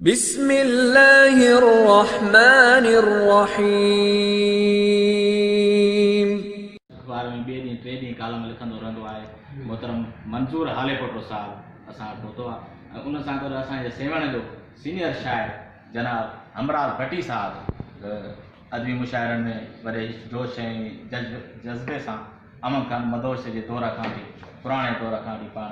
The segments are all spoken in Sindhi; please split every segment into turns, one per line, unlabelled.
بسم الله الرحمٰن الرحيم. اخبار
۾ ٻئي ڏينهن ٽئين ڏينهن ڪالم لکندو رهندو آهي. محترم منظور هاليپوٽو صاحب اسان وٽ پهتو آهي ۽ ان سان گڏ اسان جي سيوهڻ جو سينيئر شاعر جناب همراز ڀٽي صاحب به ادبي مشاعرن ۾ وڏي جوش ۽ جذبي سان امن خان مدهوش جي دور کان وٺي پراڻي دور کان وٺي پاڻ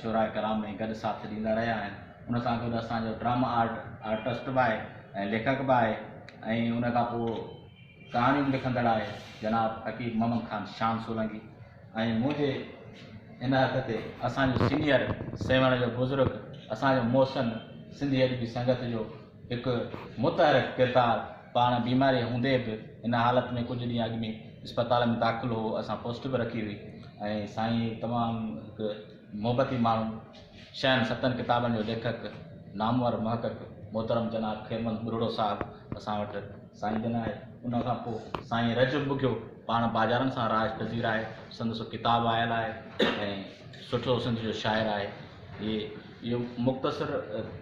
شعراء ڪرام ۾ گڏ ساٿ ڏيندا رهيا آهن. ان سان گڏ اسان جو ڊرامه آرٽ آرٽسٽ به آهي ۽ ليکڪ به آهي ۽ ان کان پوء ڪهاڻيون به لکندڙ آهي جناب حڪيم محمد خان شام سولنگي ۽ منهنجي ان هٿ تي اسان جو سينيئر سيوهڻ جو بزرگ اسان جو محسن سنڌي ادبي سنگت جو هڪ متحرڪ ڪردار پاڻ بيماري هوندي به ان حالت ۾ ڪجهه ڏينهن اڳ ۾ اسپتال ۾ داخل هو اسان پوسٽ به رکي هئي ۽ سائين تمام هڪ محبتي ماڻهو شين ستن ڪتابن جو ليکڪ نامور محقق محترم جناب خيرمل ٻرڙو صاحب اسان وٽ سائين جن آهي ان کان پوء سائين رجب بگيو پاڻ باجارن سان راج پذير آهي سندس ڪتاب آيل آهي ۽ سٺو سنڌ جو شاعر آهي هي اهو مختصر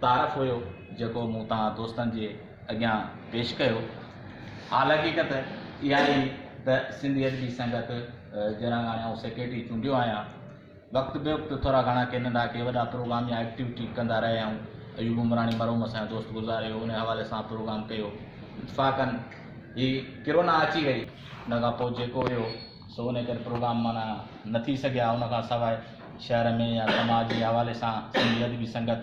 تعارف هيو جيڪو مون تان دوستن جي اڳيان پيش ڪيو حال حقيقت اها آهي ته سنڌي ادبي سنگت جنرل هاڻي آئون سيڪريٽري چونڊيو آهيان وقت بي وقت ٿورا گهڻا ڪي ننڍا ڪي وڏا پروگرام يا ايڪٽيوٽي ڪندا رهيا آهيون. ايوب عمراڻي مرحوم اسان جو دوست گذاري هو، ان حوالي سان پروگرام ڪيو. اتفاقاً هي ڪرونا اچي وئي. ان کان پوء جيڪو هيو سو ان ڪري پروگرام معنيٰ نه ٿي سگهيا. ان کان سواء شهر ۾ يا سماج جي حوالي سان سنڌي ادبي سنگت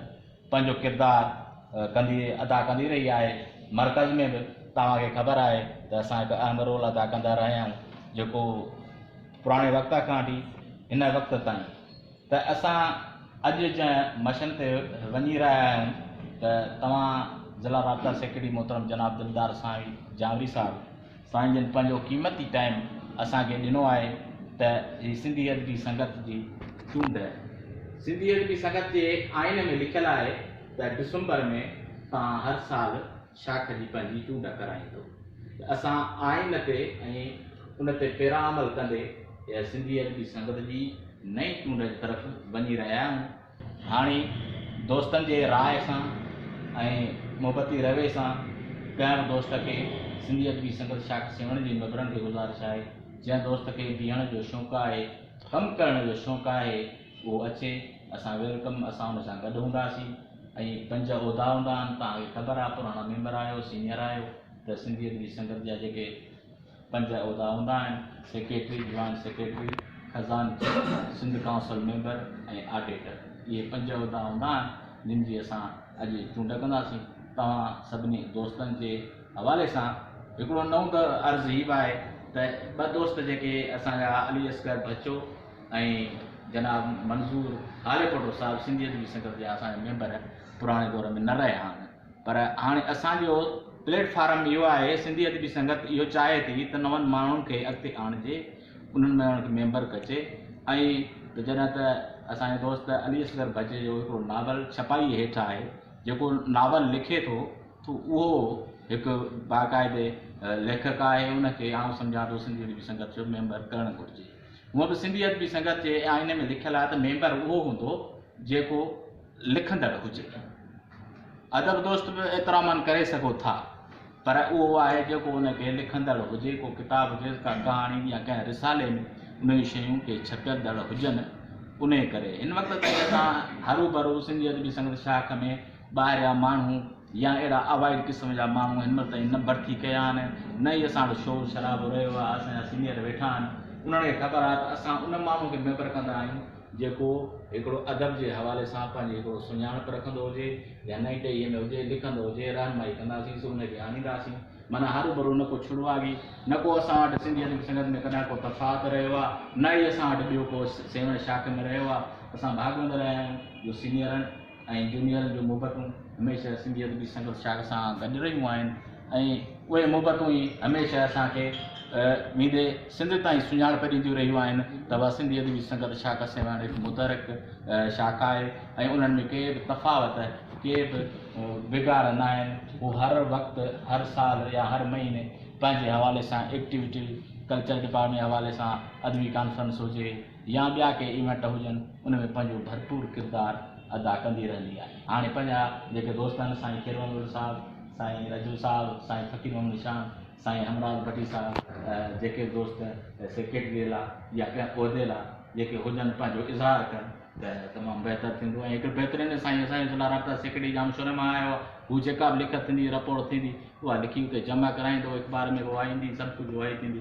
پنهنجو ڪردار ڪندي ادا ڪندي رهي آهي. مرڪز ۾ به توهان کي خبر آهي ته اسان هڪ اهم رول ادا ڪندا رهيا آهيون جيڪو. پراڻي وقت کان وٺي هن وقت تائين ته اسان اڄ جنهن مشن تي وڃي رهيا آهيون ته توهان ضلع رابطا سيڪريٽري محترم جناب دلدار سانوي جانوري صاحب سائين جن پنهنجو قيمتي ٽائيم اسان کي ڏنو آهي ته هي سنڌي ادبي سنگت جي چونڊ سنڌي ادبي سنگت جي آئين ۾ لکيل آهي ته ڊسمبر ۾ توهان هر سال شاخ جي پنهنجي چونڊ ڪرائيندو ته اسان آئين تي ۽ ان تي پيرا عمل ڪندي سنڌي ادبي سنگت جي نئين چونڊ جي طرف وڃي رهيا آهيون. هاڻي دوستن جي راء سان ۽ محبتي روي سان ڪنهن به دوست کي سنڌي ادبي سنگت شاخ سيوهڻ جي ميمبرن کي گذارش آهي جنهن دوست کي بيهڻ جو شونق آهي، ڪم ڪرڻ جو شونق آهي اهو اچي اسان ويلڪم اسان ان سان گڏ هونداسين ۽ پنج عهدا هوندا آهن توهان کي خبر آهي پراڻا ميمبر آهيو سينيئر آهيو ته سنڌي ادبي سنگت جا جيڪي پنج عهدا هوندا آهن سيڪريٽري جوائنٽ سيڪريٽري خزانچي سنڌ ڪائونسل ميمبر ۽ آڊيٽر اهي پنج عهدا هوندا آهن جن جي اسان اڄ چونڊ ڪنداسين توهان سڀني دوستن جي حوالي سان هڪڙو نئون عرض هي به آهي ته ٻه دوست جيڪي اسان جا علي اصغر ڀچو ۽ جناب منظور هاليپوٽو صاحب سنڌي ادبي سنگت جا اسان جا ميمبر پراڻي دور ۾ نه رهيا آهن پر هاڻي اسان جو پليٽ فارم اهو آهي سنڌي ادبي سنگت اهو چاهي ٿي ته نون ماڻهن کي اڳتي آڻجي انهن ۾ انهن کي ميمبر ڪجي ۽ ته جڏهن ته اسان جو دوست علي اصغر ڀڄ جو هڪڙو ناول ڇپائي هيٺ آهي جيڪو ناول لکي ٿو ٿو اهو هڪ باقاعدي ليکڪ آهي ان کي آئون سمجهان ٿو سنڌي ادبي سنگت جو ميمبر ڪرڻ گهرجي. هونئن به سنڌي ادبي سنگت جي آئين ۾ لکيل آهي ته ميمبر اهو هوندو جيڪو لکندڙ هجي. ادب دوست به ايترا من ڪري سگهو ٿا پر اهو آهي جيڪو ان کي لکندڙ هجي، ڪو ڪتاب هجيس، ڪا ڪهاڻي يا ڪنهن رسالي ۾ ان جون شيون ڪي ڇپيندڙ هجن. انهيء ڪري هن وقت تائين اسان هروڀرو سنڌي ادبي سنگت شاخ ۾ ٻاهريان ماڻهو، يا اهڙا اوائڊ قسم جا ماڻهو هن مهل تائين نه ڀرتي ڪيا آهن نه ئي اسان وٽ شور شرابو رهيو آهي اسان جا سينئر ويٺا آهن انهن کي خبر آهي ته اسان ان ماڻهو کي ميمبر ڪندا آهيون جيڪو هڪڙو ادب جي حوالي سان پنهنجي هڪڙو سڃاڻپ رکندو هجي يا نئين ٽهيء ۾ هجي لکندو هجي رهنمائي ڪنداسين سو ان کي آڻينداسين معنيٰ هروڀرو نه ڪو ڇڙواڳي نه ڪو اسان وٽ سنڌي ادبي سنگت ۾ ڪڏهن ڪو تفاوت رهيو آهي نه ئي اسان وٽ ٻيو ڪو سيوهڻ شاخ ۾ رهيو آهي اسان ڀاڳوندڙ آهيون جو سينئرن ۽ جونيئرن جون محبتون هميشه سنڌي ادبي سنگت شاخ سان گڏ رهيون آهن ۽ اهي محبتون ئي هميشه اسان کي ويندي سنڌ تائين سڃاڻپ ڏينديون رهيون آهن ته اها سنڌي ادبي سنگت شاخ سواڻ هڪ متحرڪ شاخ آهي ۽ انهن ۾ ڪي به تفاوت ڪي به بگاڙ نه آهن هو هر وقت هر سال يا هر مهيني پنهنجي حوالي سان ايڪٽيوٽي ڪلچر ڊپارٽمينٽ حوالي سان ادبي ڪانفرنس هجي يا ٻيا ڪي ايونٽ هجن ان ۾ پنهنجو ڀرپور ڪردار ادا ڪندي رهندي آهي. هاڻي پنهنجا جيڪي دوست آهن سائين خير محمد صاحب، سائين رجو صاحب، سائين فقير محمد نشان، سائين همراز ڀٽي صاحب جيڪي دوست سيڪريٽري لا يا ڪنهن عهدي لا جيڪي هجن پنهنجو اظهار ڪن ته تمام بهتر ٿيندو ۽ هڪڙي بهترين سائين اسان جي ضلع رابطا سيڪريٽري ڄام شوري مان آيو آهي هو جيڪا به لکت ٿيندي رپورٽ ٿيندي اها لکي اتي جمع ڪرائيندو اخبار ۾ به اها ايندي سڀ ڪجهه اها ئي ٿيندي.